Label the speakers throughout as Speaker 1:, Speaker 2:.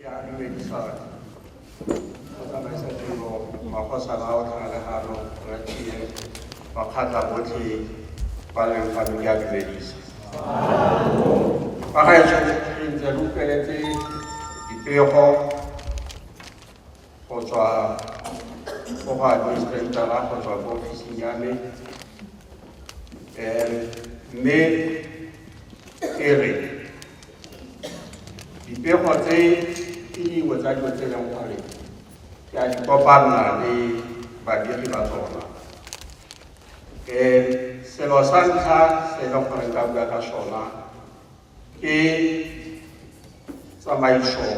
Speaker 1: Yeah, you may be sorry. Tsamaisa tiro, magosa ba o tlhalegano, ratile, makgatla botlhe ba leng fa di a dumedisa. Fa ga e tshwanetse re ntse re utlweletse dipego go tswa go go administratara go tswa ko ofising ya me um mme e re dipego tse ke dingwe tsa dilo tse e leng gore ke a di kopanna le badiri ba tsona um selo sa ntlha se e leng gore nka bua ka sona ke tsamaiso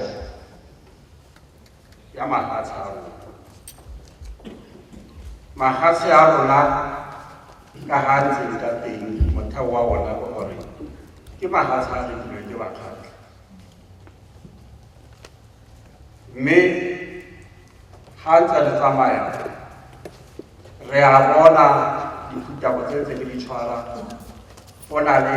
Speaker 1: ya mafatshe a rona mafatshe a rona ka ga ntse ka teng motheo wa ona ke gore ke mafatshe a rekilweng ke bakgatlha mme ga ntse re tsamaya re a bona dithutabo tse tse ke di tshwara go na le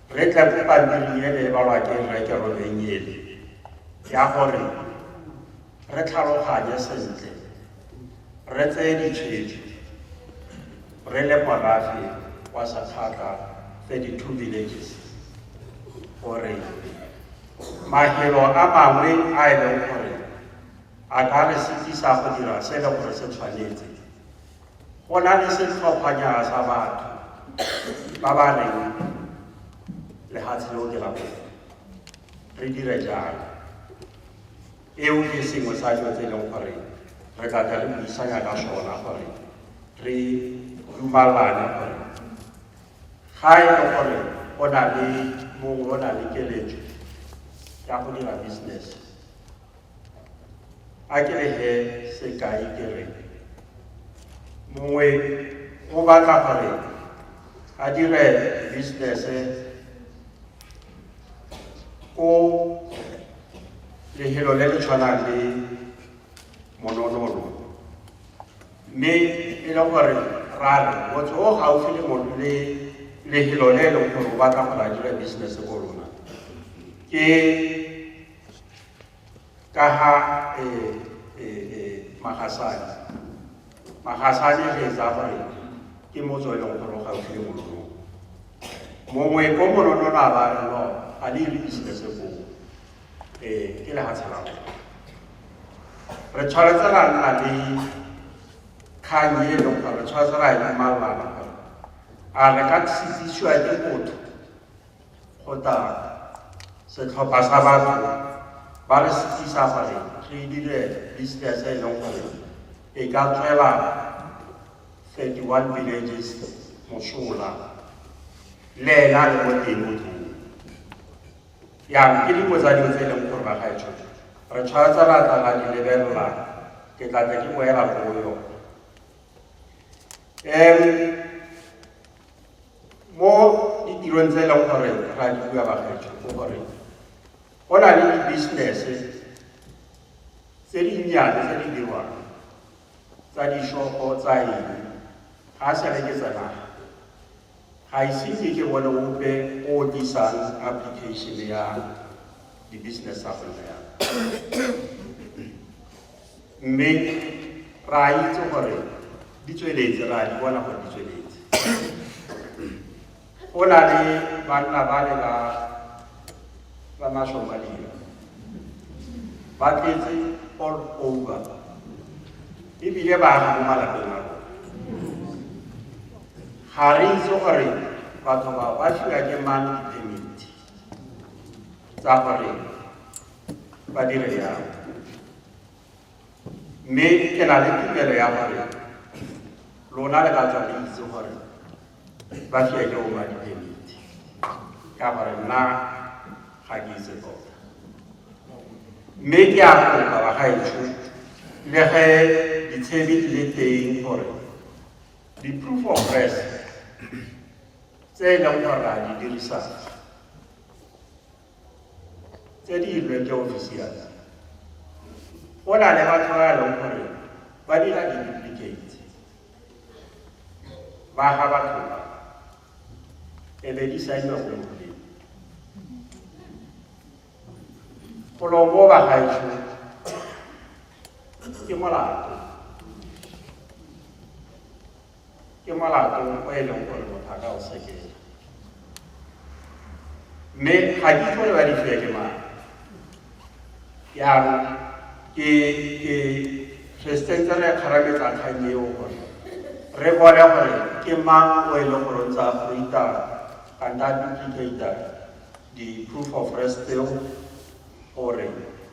Speaker 1: re tle go pampiri e le balwa ke reke robenyele ya gore re tlhaloganye sentle re tseye ditshwetso re le morafe wa sakgatlha 32 villages gore mahelo a mangwe a e leng gore a ka re se tlisa go dira se e leng gore se tshwanetse go na le setlhophanyana sa batho ba ba reng lefatshe le o dira go re dire jang eo ke sengwe sa dilo tse e leng gore re tla tla re buisanya ka sona gore re dumalane gore ga e le gore o na le mongwe o na le keletso ya go dira business a ke re he sekai ke re mongwe o batla gore a dire business ko lehelo le le tshwanang le mononono mme e le gore rare motho o gaufi le mono le lehelo le e leng gore o batla gore a dire business ko lona ke ka ha e, e, e, magasane magasane re etsa gore ke motse o e leng gore o gaufi le monono mongwe ko monono na ba re no ga le ile business ko ee ke le ga tshela re tshwanetse ra nna le kgang e leng gore re tshwanetse ra e malana gore a re ka tsitsisiwa ke motho go tla setlhopha sa batho ba re setsisa gore re dire business e leng gore e ka tswela 31 villages mosola le ena le mo teng mo teng yang ke dingwe tsa dilo tse e leng gore bagaetsho re tshwanetse ra tla ra di lebelela ke tla tla ke boela go yone um Mo ditirong tse e leng gore ra di bua bakgetsho ke gore go na le di-business-e tse dinnyane tse di dirwang tsa dishopo tsa eng ga a sa reketsa naga ga ise ke ke bone ope o tlisang application ya di-business tsa go nna mme re a itse gore di tsweletse re a di bona gore di tsweletse go na le banna ba le ba ba mashomadira ba tletse all over ebile ba aga mo malapeng a ga re itse gore batho ba ba fiwa ke mang ditemiti tsa gore ba dire jalo mme ke na le tumelo ya gore lona le ka tswa le itse gore ba fiwa ke oma diphemiti ka gore nna ga ke itse tota mme ke a kopa ba gaetsho le ge ditshebi di le teng gore di-proof of res tse e leng gore a di dirisang tse di ilweng ke ofisiale go na le batho ba leng gore ba dira di-duplicate ba ga batho ba e be di saenwa mo moleng golo mo ba gaetsho ke molato ke molato o e leng gore motho a ka o sekela mme ga ke gore ba difiwa ke mang jaanong ke ke resistance re kgarametsa kgang eo gore re bone gore ke mang o e leng gore o ntse a fruita kanta duplicata di-proof of rest tseo gore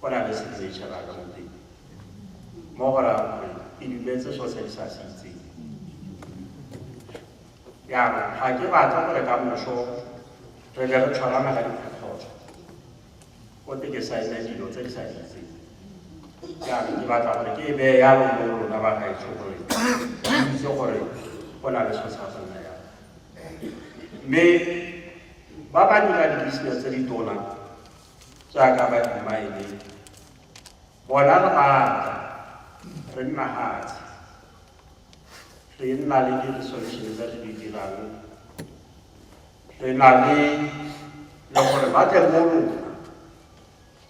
Speaker 1: go na le se tse tšhela ka moteng mo go raya gore e dumetse so se sa se itseng yana ga ke batla gore ka moso re be re tshwarana ka dikgotso o te ke saene dilo tse di sa di itseng yana ke batla gore ke e beye yalo mo lona ba gaetsho gore itse gore go na le so sa go nna yalo mme ba ba dira di-business tse di tona jaaka ba imaeleng bona re maatla re nna hatsi re nna le di-resolution tse re di dirang re na le le gore ba tle mo rona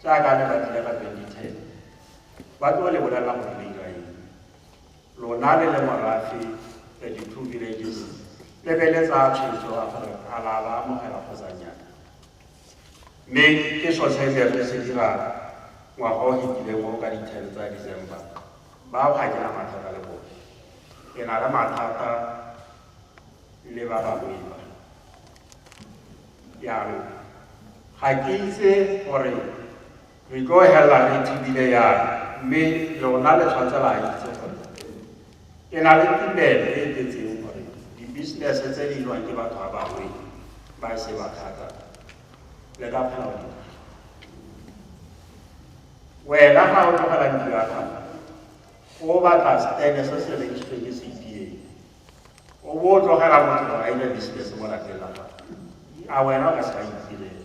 Speaker 1: jaaka le ba tlile ka twenty ten ba tlo le bolelela gore le ira eng lona le le morafe thirty two villages le be le tsaya tshwetso a gore a la ba amogela kgotsa nyana Mme ke sone se re se dirang ngwaga o fetileng o ka di-ten tsa December. Bao ga ke na mathata le bone. Ke na le mathata le ba bangwe ba. Jaanong ga ke itse gore Re tlo hella re thibile yana, mme lona le tshwantse la itse gore ke na le tumelo e e tletseng gore dibisinese tse di lwang ke batho ba bangwe ba e se ba thata le ka kgona go wena ga o tlogela ntlo ya gago o batla stene se se rekisitsweng ke cpa o bo o tlogela motho gore a ile business mo lapeng la gago a wena o ka se ka itirela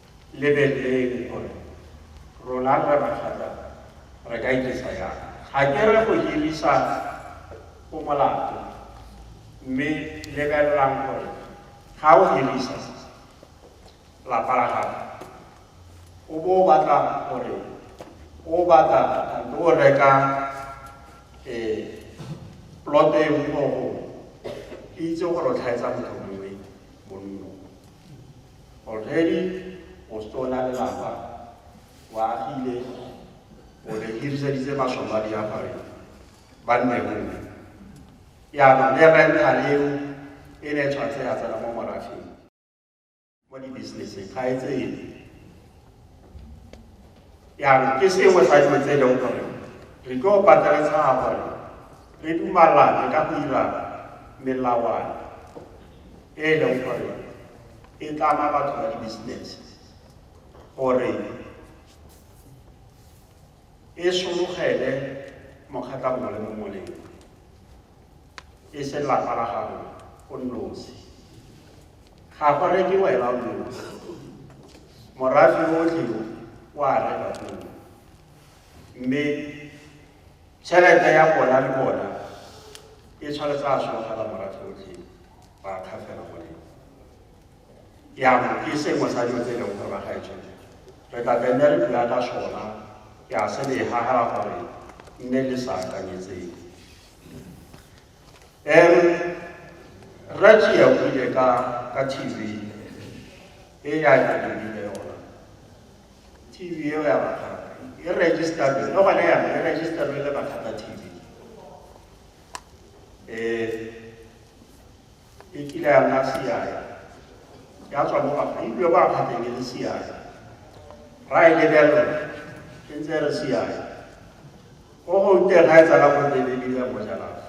Speaker 1: Lebeleleng gore rona re ragata re ka ikisa yang. Ga ke re go hirisa go molato, mme lebelelang gore ga o hirisa lapa la gago o bo o batla gore o batla kampo o reka um ploto e mmogo ke itse gore o tlhaetsa motho Already o setse o na le lapa, o agile, o ne hiriseditse Masomalia gore ba nne mongwe. Jaanong le rental eo e ne tshwanetse ya tsena mo morafeng mo di-businesseng ga e tsene. jaanong ke sengwe sa dilo tse e leng gore re tlo pateletsega gore re dumalane ka go dira melawana e e leng gore e tlama batho ba di-business gore e sologele mokgatla mongwe le mongwe lengwe e se lapa la gago o nosi ga go reke wena o nosi morafe otlhe o a reka pele mme tšhelete ya bona le bona e tshwanetse a sologela morafe otlhe ba kgafela go lena yana ke sengwe sa dilo tse e leng gore ba gaetsho re tla tenne re bua ka sona ke a se le gagala gore nne le sa akanyetseng um rati ya buile ka ka tv e ya ke lebile yona tv eo ya bakgata e registerwe le gone yana e registerwe le bakgata tv um e kile ya nna seae ya tswa mo Afrika ebile kwa kgateng e le seae ra e lebelela e ntse e re seae ko go teng ga e tsala go lebelele mo jalafa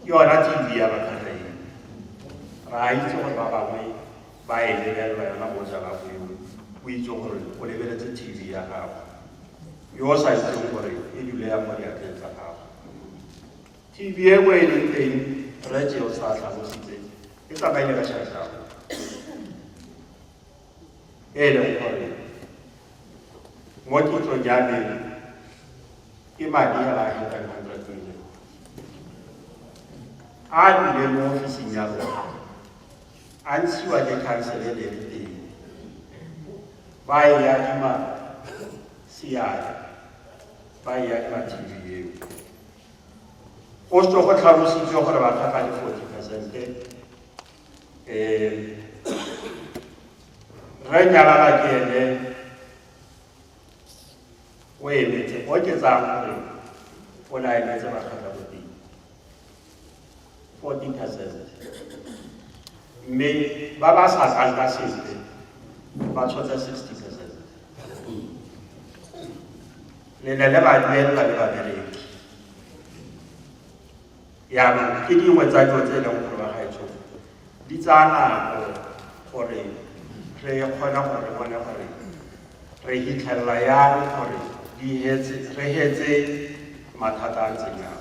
Speaker 1: ke yona tv ya bakgatha e ra itse gore ba bangwe ba e lebelela yona mo jalafa eo o itse gore o lebeletse tv ya gago yo o sa itseng gore e dule ya mo diatleng tsa gago TV e o e leng teng, Rre Jeosa a tlhalositse, e tsamaile ka Shashago. E e leng gore mo kitsong ya me ke madi a ba hundred hundred million a dule mo ofising ya rona a ntshiwa ke council e leng teng ba e adima seatla ba e adima tv eo Go tswa go tlhalositswe gore ba tlhaka le 40 percente um re nyalala ke ene o emetse o ke tsaya gore o ne a emetse ba tlhaka 40 percent mme ba ba sa tlang ka sepe ba tshotse 60 percent le ne le ba duelela le babereki yaanong ke dingwe tsa dilo tse e leng gore ba gaetsho di tsaya nako gore re kgone gore re bone gore re hitlhelela yang gore re hetse mathata a ntseng yang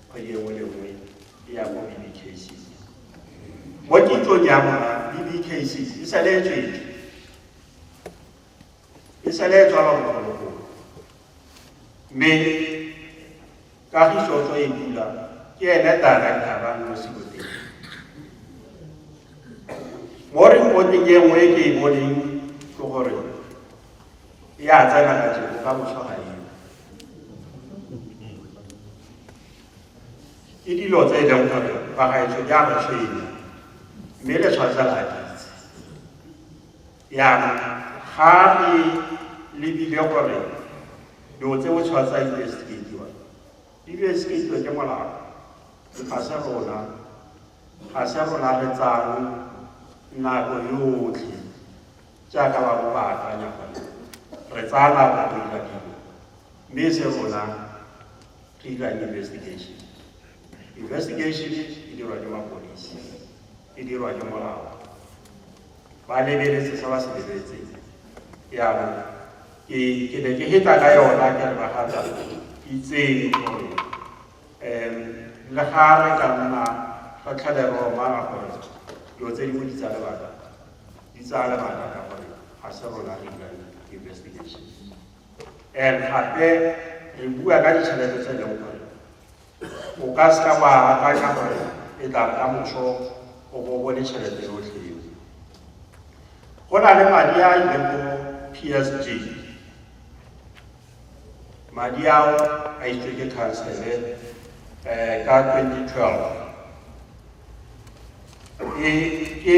Speaker 1: kgwedi engwe le nngwe e ya ko BBKCC mo kitsong ya rona BBKCC e sale e tswetswe e sale e tswalwa bogologolo mme kagiso tso e bula ke ene director ba mo seboteng mo reporteng e nngwe e ke e boneng ke gore e a tsena ka jeko ka boswa ga eo ke dilo tse e leng gore bagaetsho di a re tshwenya mme le tshwanetse la ditse jaanong ga re lebile gore dilo tse o tshwanetse a investigatiwa di investigatiwe ke molao ga se rona ga se rona re tsang nako yotlhe jaaka ba bo ba akanya gone re tsaya nako go dira dilo mme se rona re dira investigation investigation e dirwa ke mapodisi e dirwa ke molao ba lebeletse sa ba se lebeletseng yaanong ke ke ne ke heta ka yona ke re bagata itseng gore um le ga re ka nna re tlhele re omara gore dilo tse di boditsa lebaka di tsaya lebaka ka gore ga se rona re dirang investigations and gape re bua ka ditšhelete tse leng gore o ka se ka wa akanya gore e tla ka moso o bo bone tšhelete yotlhe eo go na le madi a ileng ko psg madi ao a itswe ke khansele um ka 2012 e ke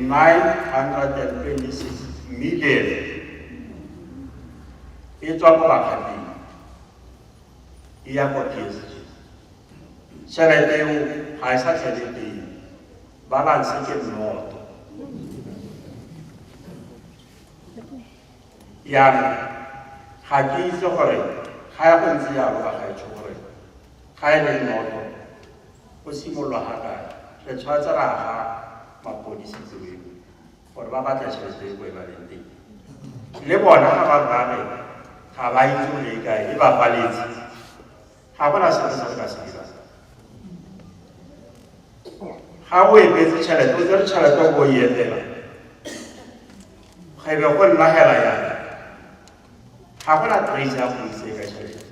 Speaker 1: 926 million e tswa ko bakgating e ya kwa p s g tšhelete eo ga e sa tlhele teng balance ke nnoto Jaanong, ga ke itse gore ga ya go ntse jalo ba gaetsho gore ga e le nnoto go simololwa ga kae re tshwanetse ra ga mapodisi tseweng gore ba batla tšhelete e ko e ba leng teng le bona ga ba rrage ga ba itse gore e kae e ba faletse ga gona selo se re ka se dirang ga o emetse tšhelete o tsere tšhelete o bo elela ga ebe go nna hela yana ga gona trace ya go itse ka tšhelete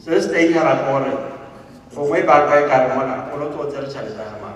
Speaker 1: se se teng hela gore gongwe banka e kare mona o lo tlo tsere tšhelete ya gamaa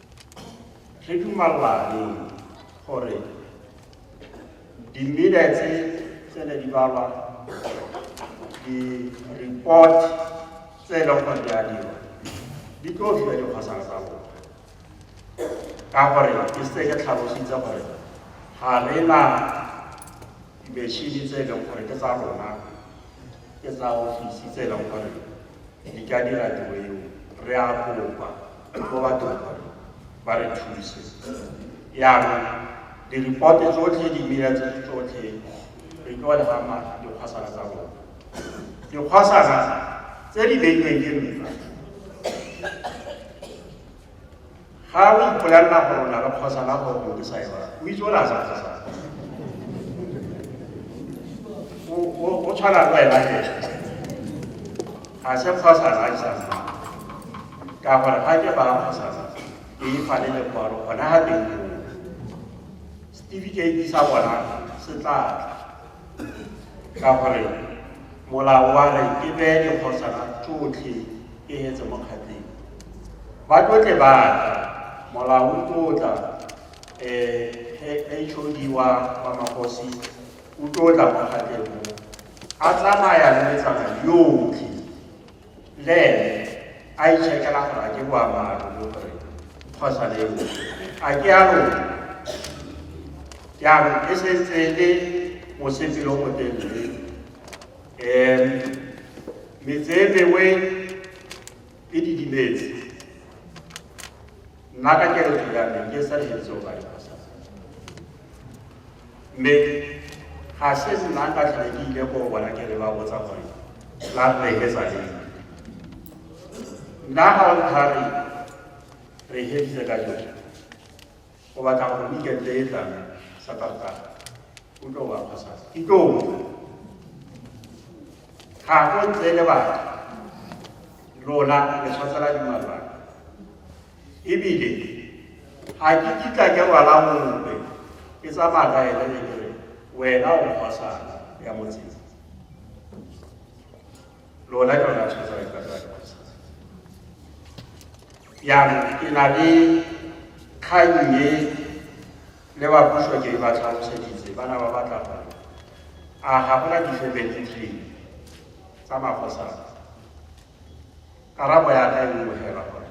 Speaker 1: re dumalane gore dimela tse tsene di balwa di-report tse e leng gore di a dirwa di tlo fiwa dikgosana tsa bona ka gore ke se ke tlhalositse gore ga re na dimešini tse e leng gore ke tsa rona ke tsa ofisi tse e leng gore di ka dira tiro eo re a kopa go batho ba re thuse yaanong diripote tsotlhe dimela tse tsotlhe re tlo le gama dikgwasana tsa rona dikgwasana tse di beilweng ke nna ga o ipolelela gore o na le kgwasana gore o ke sa e bara o itse o na le kgwasana o tshwana le wena ke ga se kgwasana a isang ka gore ga ke ba kgotsa ke e fa le lekwalo gona ga teng certificate sa bona se tla ka gore molao wa re ke beye dikgosana tsotlhe ke etse mo kgatleng ba tlotle ba tla molao o tlotla um hod wa wa magosi o tlotla mo kgatleng mo a tsamaya le metsana yotlhe le ene a itšhekela gore a ke boammaaruri gore phosa le eo a ke a rona jaanong e setse e le mosetse yo motelele um metse e mengwe e didimetse nna ka keretso ya me ke sa le etse o ba mme ga se nna ka tlhole ke ile go bona ke re ba botsa gore la re ke sa leng nna ga o thare re heditse ka jo go batla gore weekend e tlang sa tota o tlo wa kgosa ke tlo ga go ntse le batho rona le tshwatsela dimalwana ebile ga ke kitla ke rwala mope ke tsamaya ka ene ke kere wena o mosana ya motseng lona ke lona tshwetsa le kata jaanong ke na le kgang e le ba puso ke ba tlhaloseditse ba na ba batla gore a ga gona di-family tree tsa magosana Karabo ya ka e nngwe fela gore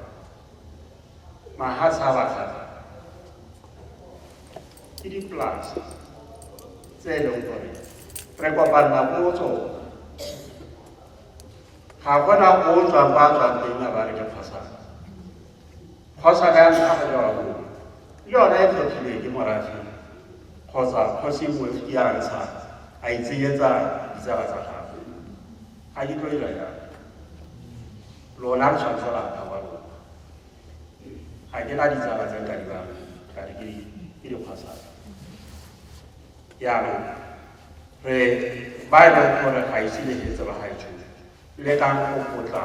Speaker 1: mahatsha a batlhata ke dipolase tse e leng gore re kopanna ko go tsone ga gona o o tswang ba tswang teng a ba re ke kgosana kgosana ya ntlha go lewa mo le yona e tlhotlhile ke morafi kgotsa kgosi mofi ya ntsha a itsenyetsa ditsala tsa gagwe A ke tlo ira jalo. Lona re tshwanetse la tla wa lona. A ke na ditsala tse nka di ba ka di ke ke di khasa. Ya re re ba e leng gore ga ise le hetse ba ga e tshwene. Le ka go potla.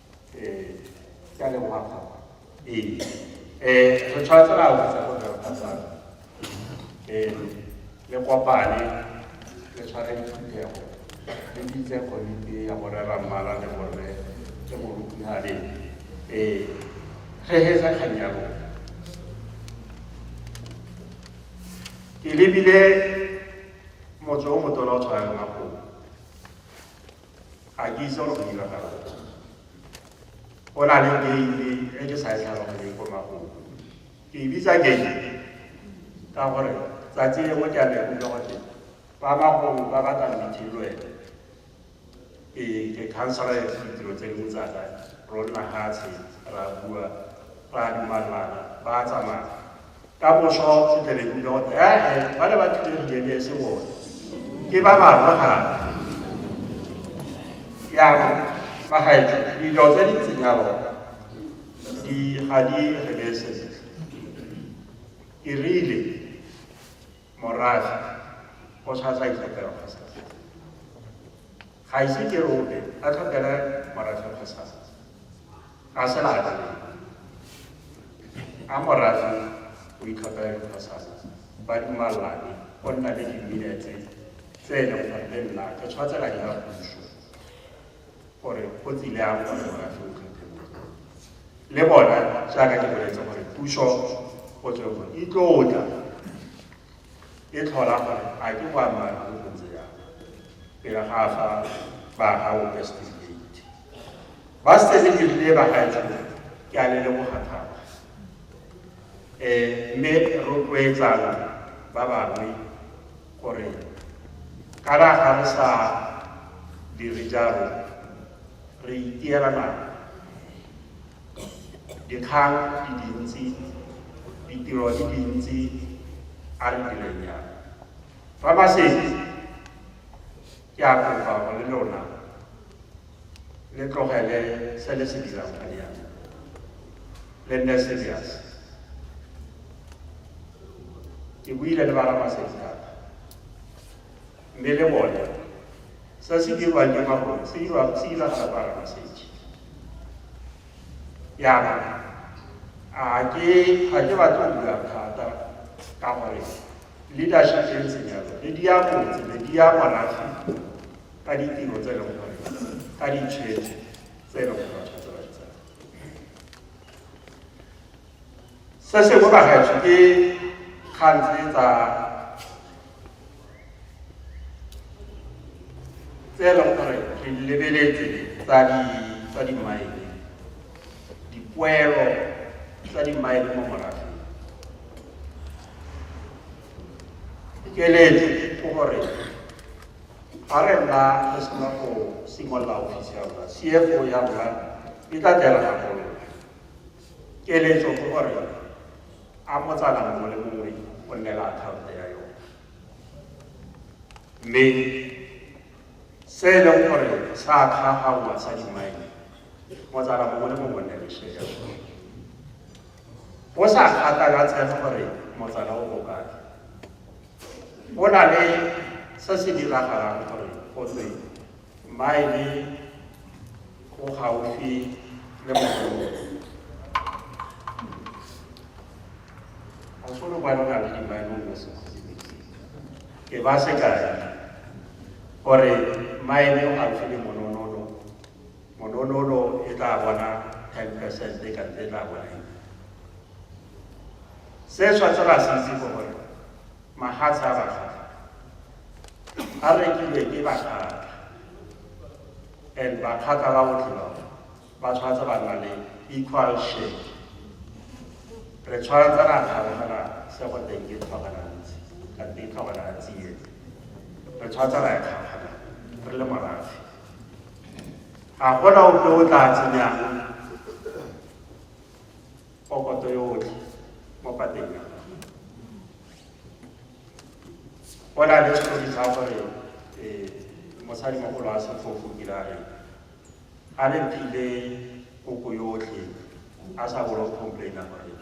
Speaker 1: Eh, ke a leboga thata. Ee. Eh, re tshwanetse ra utlwisa ko re phatsana. Eh, le kopane le tshware diphuthego le bitse komiti ya borre ra mmala le borre le morutihane ee ge hetsa kgang ya lona ke lebile motse o motona o tshwana le makobo ga ke itse gore go diragala o na le keile e ke sa e tlhaloganyeng ko magolo ke e bitsa keile ka gore tsatsi lengwe ke a le kutlwa gote ba bagolo ba batla meeting le wena ee ke councilor ya ditiro tse dingwe tsaka ronna gatshe ra bua ra dumalana ba tsamaya ka moso seteleng tota ee ba le ba tlile rileng e se bone ke ba bangwe gape yabo ba gaetso dilo tse di ntseng yalo di ga di rele sentle ke rile morafe o tshwatsa itsepego Ga ise ke re ope a tlhokele morafe kgosana. Ga se laka le. A morafe o itlhophela dikgosana. Ba dumalane go nna le diminetse tse e leng gore le nna ke tshwatsela ya puso gore go tsile a gore morafe o tlhophe le bona jaaka ke boletse gore puso o tswe go itlotla e tlhola gore a ke boammaaruri go ntse jang pele ga a fa ba gago ka certificate ba setse le dirile ba gaetsa ke a le leboga thata um mme rotloetsana ba bangwe gore kana ga re sa dire jalo re itiela nako Dikgang di dintsi, ditiro di dintsi, a re direng jang. Fa ba setse, ke a kopa go le lona le tlogele se le se dirang ka diana le nne serious. Ke buile le ba Ramasetsi thata. mme le bone sa se dirwang ke magone se dirwang se diragala kwa ramasetse yana a ke ga ke batlo go bula thata ka gore leadership e ntseng jalo le di ya motse le di ya morafe ka ditiro tse e leng gore ka ditshwetso tse e leng gore batho tse ba di tsaya se sengwe bagaetsho ke kgang tse tsa tse e leng gore re lebeletse tsa di tsa di mine dipoelo tsa di mine mo morafeng keletso ke gore ga re nna re sena go simolola ofisi ya rona cfo ya rona e tla dira gagolo keletso ke gore a motsana mongwe le mongwe o nne le akhaonto ya yone mme se e leng gore sa kgagaoa sa dimaene motsana mongwe le mongwe o nne le share ya sone go sa kgatakatsege gore motsana o bokae go na le se se diragalang gore go tse maene o gaufi le mogolo ga solo ba nna le dimaemong ya sekhosibeke e ba sekai gore maeme o gaufi le mononolo mononolo e tla bona ten percent e kante e tla bona eng se tshwanetse ra se itse ko gore mahatsha a bakgata a rekilwe ke bakgata and ba kgakala go tlola ba tshwanetse ba nna le equal share re tshwanetse ra kgaogela se go teng ke tlhoganantsi ka teng tlhoganantsi e re tshwanetse ra e kgaogela re le morafe ga gona ope o tla tsenyang pokoto yotlhe mo pateng ya o na le setlhobi sa gore eh, mosadi mogolo a sefofo kirare a le mphile koko yotlhe a sa bolo complaina gore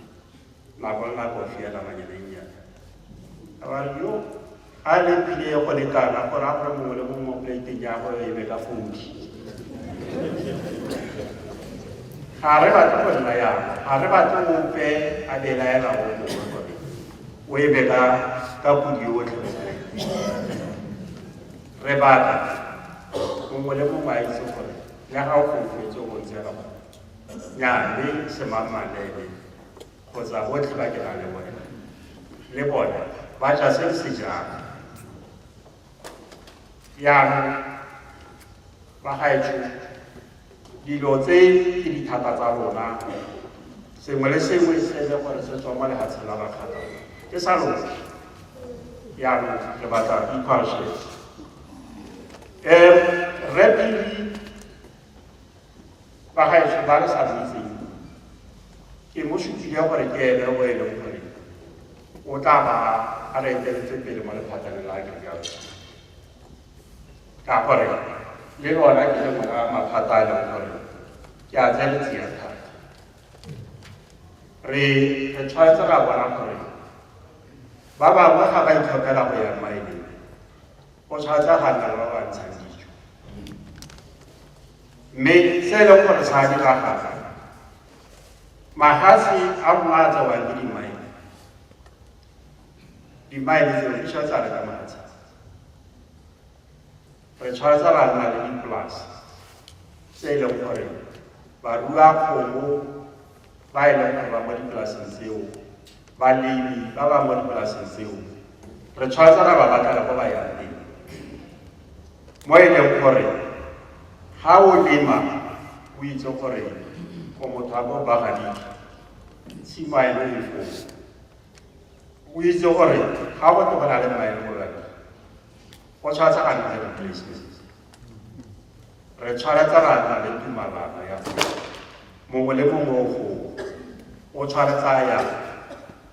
Speaker 1: nako le nako fiela manyeleng yana abare yo a le mphile go lekana gore a gore mongwe le mongwe mo plateng ya go e be ka fodi ga re batle go nna yana ga re batle ope a belaela o mongwe o e be ka ka podi yotlhe mo re batla mongwe le mongwe a itse gore le ga o gofetse go ntse ga nyane semammalele kgotsa botlhe ba ke na le bone le bone ba ja se se jang jaanong ba gaetsho Dilo tse ke dithata tsa rona, sengwe le sengwe se e le gore se tswa mo lehatsheng la Bakgatha ke sa rona. Jaanong re batla equal shares. Um, Rre Phiri ba gaetsho ba re sa boitseng ke mo supile gore ke ene o e leng gore o tla ba a re eteletse pele mo lephateng la agriculture ka gore le lona ke le mora maphata a leng gore ke a tse le tseya thata re re tshwanetse ra bona gore ba bangwe ga ba itlhopela go ya maeleng o tshwanetse ga nna ba ba ntshang dijo mme se e leng gore sa diragala magatse a rona a tsewang ke dimaele Di mile tseo di tshwanetse a reka matsi. Re tshwanetse ra nna le dipolase tse e leng gore barua kgomo ba e leng gore ba mo dipolaseng tseo balemi ba ba mo dipolaseng tseo re tshwanetse ra ba batlela ko ba yang teng mo e leng gore ga o lema o itse gore o motho a bo bagadike tshimo a e leng foo o itse gore ga go go na le maele morena go tshwanetse a nne replacement re tshwanetse ra nna le tumalana ya mongwe le mongwe o gongwe o tshwanetse a ya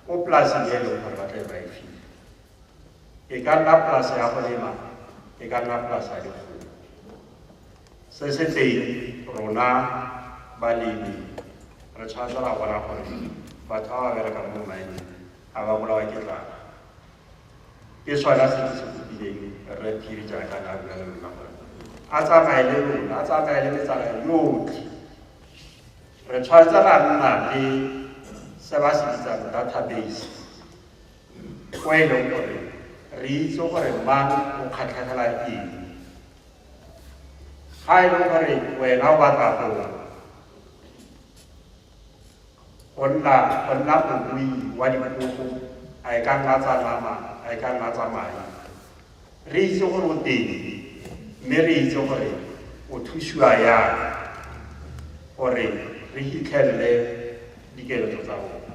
Speaker 1: ko polaseng e leng gore ba tla e ba e file e ka nna polase ya go lema e ka nna polase ya dikgomo se se teng rona balemi re tshwanetse ra bona gore batho ba ba berekang mo maemeng ga ba bolawa ke tlala ke sona se se kopileng re phiri jaaka na bula le lona gore a tsamaye le lona a tsamaye le metsana yotlhe re tshwanetse ra nna le se ba se bitsang database ko e leng gore re itse gore mang o kgatlhegela eng ga e leng gore wena o batla go go nna go nna morui wa dikgogo a e ka nna tsa nama a e ka nna tsa madi re itse gore o teng mme re itse gore o thusiwa yang gore re fitlhelele dikeletso tsa rona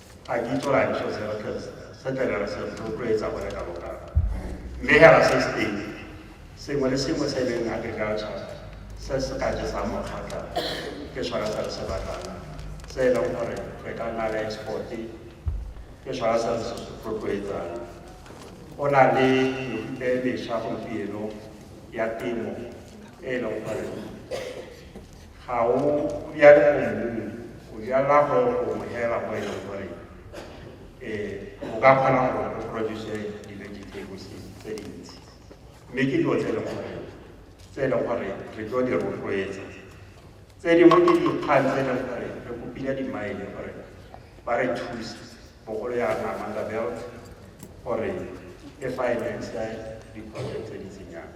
Speaker 1: A ke itse rang so se re tlhetse se tlebe re se rotloetsa bone ka boka mme hela se se teng sengwe le sengwe se e leng agriculture se se ka jesang mokgatlha ke sone se re se batlang se e leng gore re ka nna le exporte ke sone se re se rotloetsang go na le mefuta e mesha gompieno ya temo e e leng gore Ga o jale mo mmung, o jala mo gongwe fela mo e leng gore um o ka kgona gore o produce di-vegetables tse dintsi mme ke dilo tse e leng gore tse e leng gore re tlo di rotloetsa tse dingwe ke dikgang tse e leng gore re kopile dimaele gore ba re thuse bogolo ya namanda belt gore e finance diproject tse di tsenyang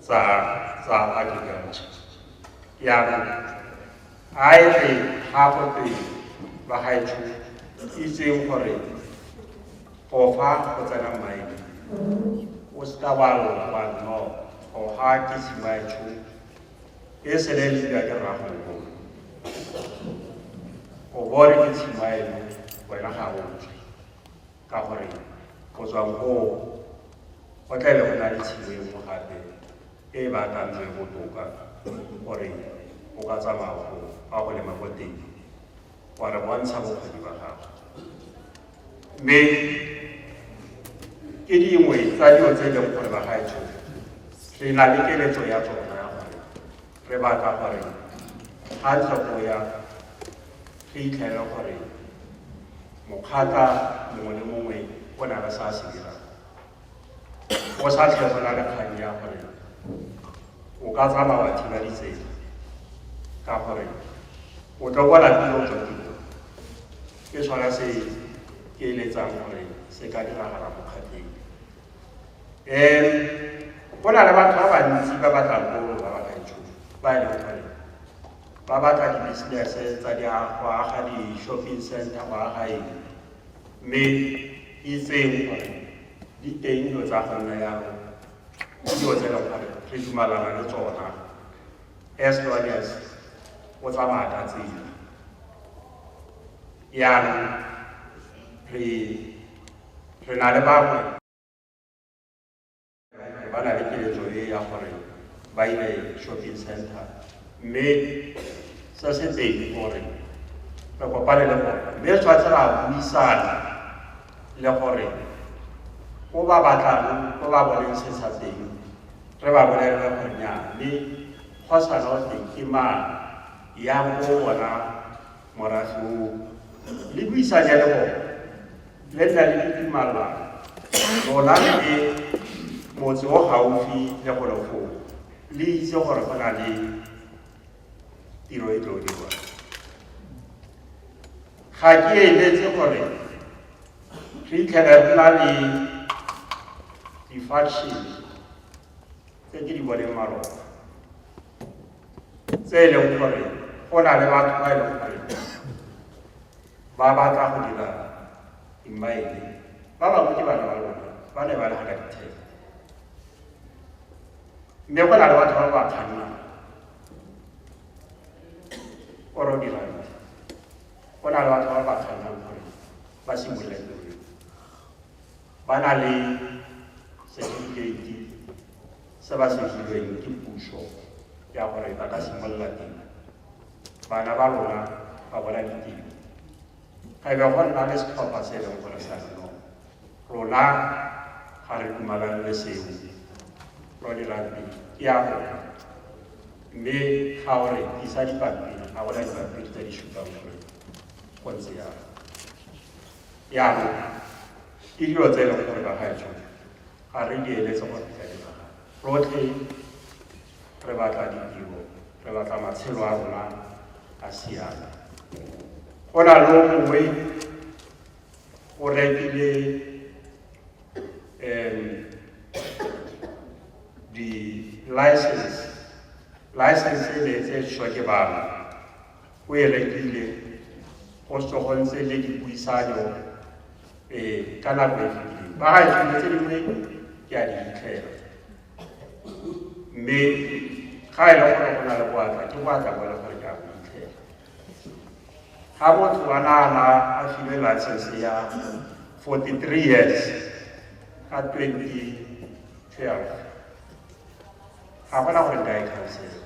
Speaker 1: tsa tsa agriculture yaanong a e re ga go twe ba gaetsho itseng gore go fa go tsena mmaene o se ka wa lona wa no go ga ke simaetsho e sele le dira ke rragogo o bone ke tshimaelo wena ga o tswe ka gore go tswa moo go tla le go na le tshimo e nngwe gape e e baakantswe botoka gore o ka tsamaya go fa go lema ko teng wa re bontsha bokgoni ba gago mme ke dingwe tsa dilo tse e leng gore ba gaetsho re na le keletso ya tsona Re batla gore ga tlhakoya re itlhele gore mokgata mongwe le mongwe o na le sa se dirang go sa tlhe go na le kgang ya gore o ka tsamaya wa thiba ditsela ka gore o tlo kwa lapile o tswa tiro ke sona se ke eletsang gore se ka diragala mokgatleng um go na le batho ba bantsi ba batla kolo ba batla ditšhono ba e leng gore ba batla di-business-e tsa di go aga di-shopping center go aga eng mme itseng gore di teng dilo tsa go nna yalo ke dilo tse e leng gore re dumalana le tsona as long as o tsamaya ka tsela yaanong re Re na le bangwe ba na le keletso e ya gore ba ile shopping center mme se se teng gore re kopane le gore mme re tshwanetse ra buisana le gore ko ba batlang ko ba boneng se sa teng re ba bolelele gore nya mme go sana o teng ke mang ya ko bona morago le buisanya le bone le nna le ditumalwa lona le motse o gaufi le go legolo le itse gore go na le tiro e tlo dirwa ga ke eletse gore re itlhele re na le di-faction tse ke di boneng malona tse e leng gore go na le batho ba e leng gore ba batla go dira dimmaele ba bangwe ke bana ba lona ba ne ba le ga ditheo mme go na le batho ba ba kgannang oro dira go na le batho ba ba kgannang gore ba simolole ba na le setifikeiti se ba se filweng ke puso ya gore ba ka simolola tiro bana ba rona ba bona ditiro ga ebe go nna le setlhopha se e leng gore sa reno rona ga re dumalane le seo ro dirang pele ke ya rona mme ga o re isa dipampiri ga go na dipampiri tse di supang gore go ntse yalo Jaanong, ke dilo tse e leng gore ba gaetsho ga re di eletse gore di ka diragala. Rotlhe re batla ditiro, re batla matshelo a rona a siame. Go na le mongwe o rekile um di-license license e ne e tse shwa ke bana go elekile go sogontse le dipuisano um ka nako e fetileng ba ga dilo tse dingwe ke a di fitlhela mme ga e le gore go na le boatla ke boatla bo le gore ke a go fitlhela ga motho wa naana a filwe license ya 43 years ka 2012 ga gona gore nka e khansela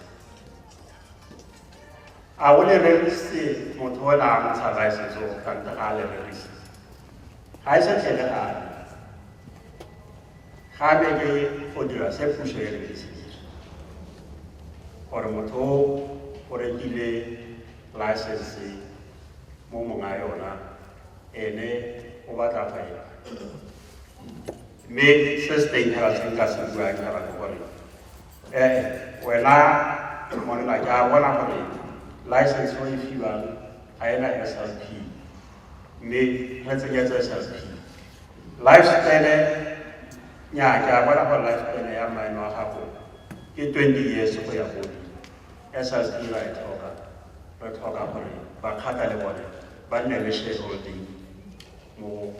Speaker 1: a o le rerise motho o la ntsha ba se zo ka ntle ga le rerise ga e se tlhele ga ga be ke go dira se puso e re se gore motho o rekile license mo monga yona ene o batla fa e mme se se teng ga se ka se bua ke ga gore ee wena monna ke a bona gore license o e fiwang ga e na slp mme re tsenyetse slp life span nya ke a bona gore life span ya mmane wa gago ke 20 years go ya godi slp ra e tlhoka re tlhoka gore bakgata le bone ba nne le shareholding mo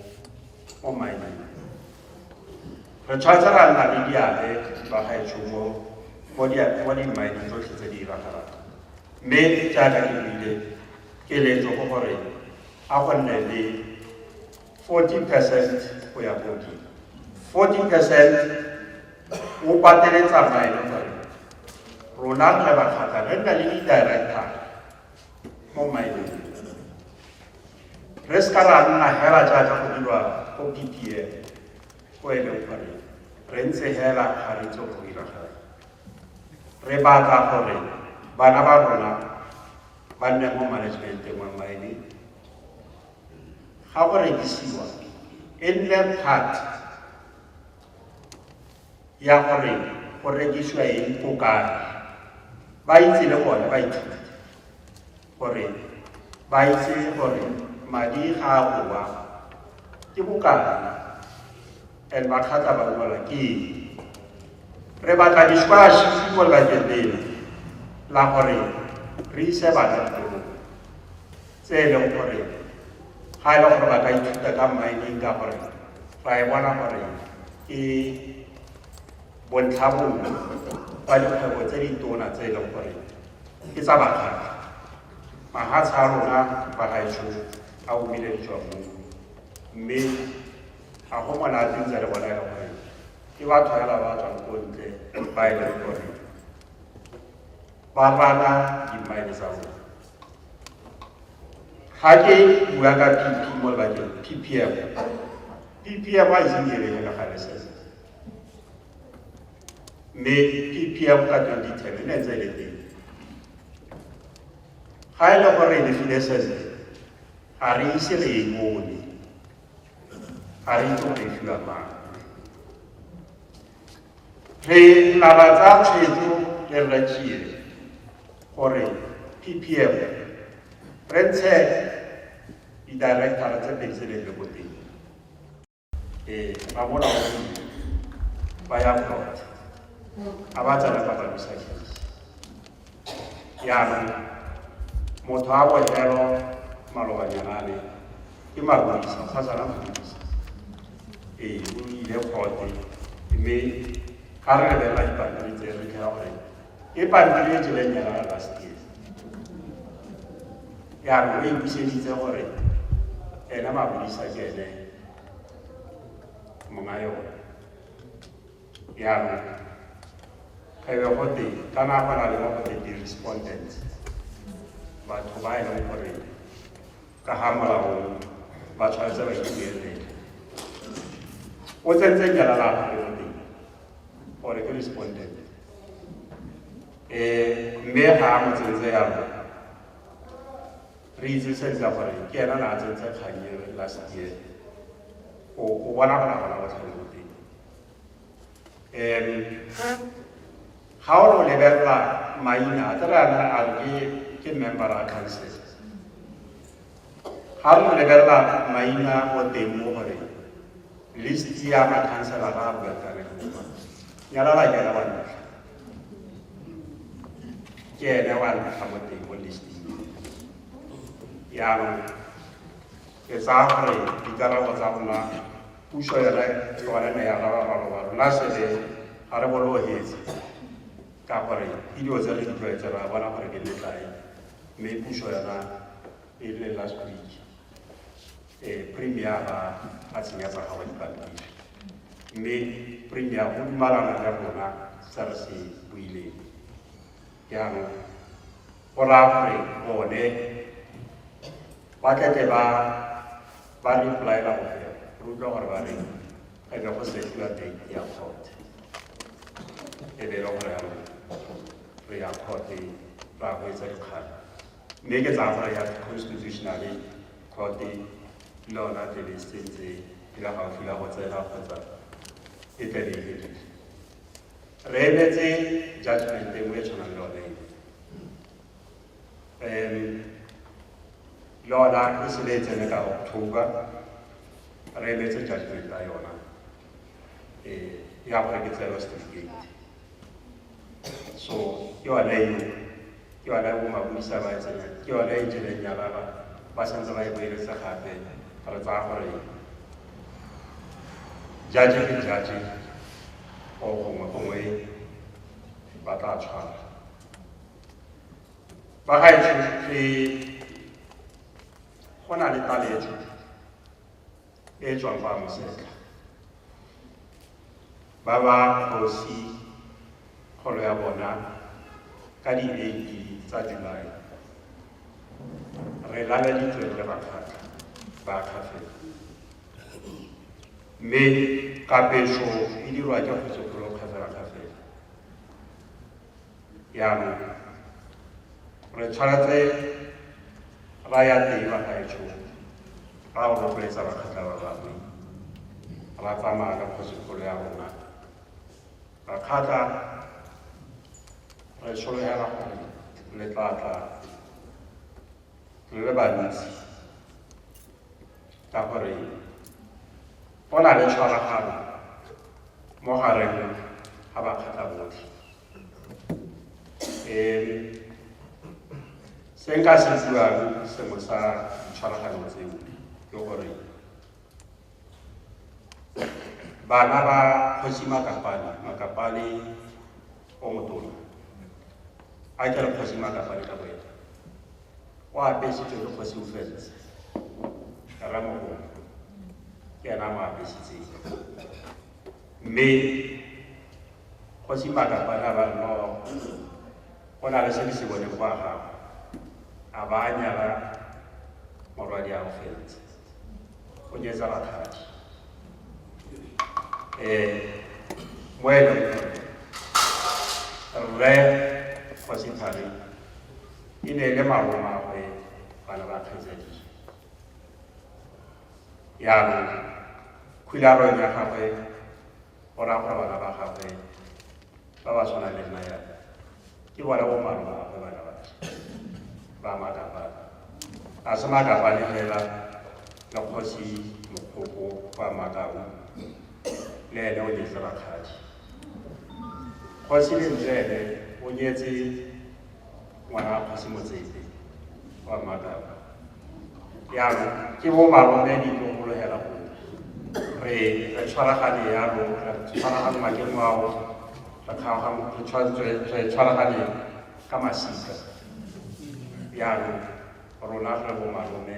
Speaker 1: mo mineng Re tshwanetse ra nna le diabe jwa gaetsho mo mo dimmaeneng tsotlhe tse di diragalang. Mme jaaka ke buile keletso go gore a go nne le 40 percent go ya ko godimo 40 percent o patele tsamaye le gore rona re le bakgata re nna le di-director mo mmaeneng re se ka ra nna hela jaaka go dirwa ko ppm ko e leng gore re ntse hela ga re tso go dira gore re batla gore bana ba rona ba nne mo managementeng wa mine ga go rekisiwa e nne part ya gore go rekisiwa eng ko kae ba itse le bone ba ithute gore ba itse gore madi ga a bowa ke bokana and ba kgatla ba bola ke eng re batla diskwashi mo lebakeng lena la gore re ise bana dikolong tse e leng gore ga e le gore ba ka ithuta ka mining ka gore ra e bona gore ke Bontlhabongwe ba dikgwebo tse ditona tse e leng gore ke tsa bakgaga mahatsha a rona ba gaetsho a omile ditswa mo mme ga go monate ntse le bona e le gore ke batho fela ba tswang ko ntle ba e leng gore ba rana dimmaene tsa rona ga ke bua ka pp mo lebakeng ppm ppm a iseng direge ka gale sese mme ke pm ka 2010 e ne ntse e le teng ga e le gore re legile sese ga re ise re e bone ga re itse gore e fiwa mang re laba tsa tshwetso le rra tšie gore ppm re ntshe di-directara tse pedi tse ne di le ko teng eh ba mola o ba ya go a ba tsala ba ba bisa ya motho a bo hero maloba nyanane ke magwisa sa tsala magwisa eh o ile khote mme ka re lebela dipapadi tse re ka gore e pampiri e tseleng ya rara bastie yaanong o e buseditse gore ene mabodisa ke ene monga yone yaanong ge be gote ka nako na le mo gote di-respondents batho ba e leng gore ka ga molaong ba tshwanetse ba ituelele o tsentse jala la gagwe mo teng gore ke respondent um mme ga a mo tsentse yalo re itse sentle gore ke ena na a tsentse kganye last year o bona gona gona botlhale mo teng um ga o re o lebelela maina a tla re ana a re ke member a council ga re lebelela maina o teng mo gore list ya makhansela ga a buakane nyalala ke wa ntlha ke ene wa ntlha mo teng mo listing yaanong ke tsaya gore dikarabo tsa rona Puso yone yone ne ya rara maloba rona sebe ga re bolohetse ka gore ke dilo tse re di tlwaetse ra bona gore ke metlae mme puso yona e le last week eh, premier ba a tsenya tsa gago dipampiri mme premier o dumalana le rona tsa re se buileng jaanong go raya gore bone ba tlete ba ba re polaela go fela re utlwa gore ba re e be go setiwa date ya court e be e le gore yalo re ya court ra go etsa dikgang mme ke tsaya gore ya constitutional court le yona tebe sentse e le gaufi la go tsena kgotsa e tlabe e fedile re emetse judgment e nngwe e tshwanang le yone um yona e sebe e tsene ka october re emetse judgment ya yona um ya gore ke tseelo certificate so ke yone eo ke yone ya bomapodisa ba e tsenya ke yone e jeleng ya baba ba santse ba e boeletse gape re tsaya gore jaje ke jaje o gongwe gongwe ba tla tshwana ba ga e go na le taletso e e tswang kwa Mosetla. Ba ba kgosi kgolo ya bona ka di 8 tsa July. Re laleditswe re le bakgatlha ba kgatlheng. Mme kapeso e dirwa ke kgosi kgolo kgafela kgafela. jaanong re tshwanetse ra ya teng ba gaetsho ra go rotloetsa bakgatla ba bangwe ra tsamaya ka kgosikgolo ya rona bakgatla re solegela gore le tlatla le le bantsi ka gore go na le tshwaragano mo gareng ga bakgatla botlhe um se nka se buang sengwe sa ditshwaraganyo tseo ke gore bana ba kgosi makapane makapane o motona a ke re kgosi makapane ka boena o apesitswe ke kgosi o fentse ra mo go ke ena mo apesitse mme kgosi maka ba na ba no go na le se se bone kwa ga a ba nyala morwadi a o fentse go nyetsa bathadi eh mo e leng rre kgosi thari E ne e le malomagwe ba le bakgetsadi. Jaanong, khularong ya gagwe o raya gore bana ba gagwe ba ba tshwana le nna yana ke bona bo malomagwe bana ba ba makapane. A se makapane fela le kgosi mokgoko kwa makau le ene o nyetse rakgadi. Kgosi lentswe ene o nyetse ngwana kgosi motsepe wa makaba yalo ke bo malome di tlo molohela go re re tshwaragane yalo re tshwaragane makeng wao re kgaogane re tshwa- re tshwaragane ka masika yalo rona re bo malome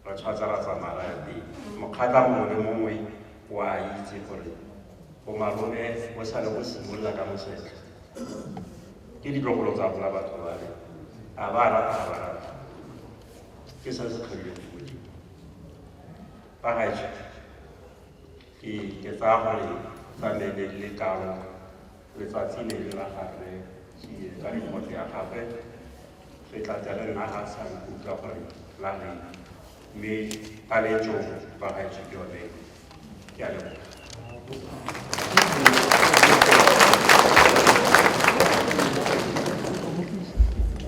Speaker 1: re tshwatsa ra tsamaya ra ya teng mokgata mongwe le mongwe wa itse gore bomalome bo sale go simolola ka mosetlha ke ditlogolo tsa rona batho ba re a ba rata ga ba rata ke sa se kgabile ke modimo ba gaetsho ke ke tsaya gore sa ne ne le kalo letsatsi le le la gagwe tsie ka remote ya gagwe re tla tla re nna ga sa nkutlwa gore la reng mme ba le jo ba gaetsho yone ke a leboga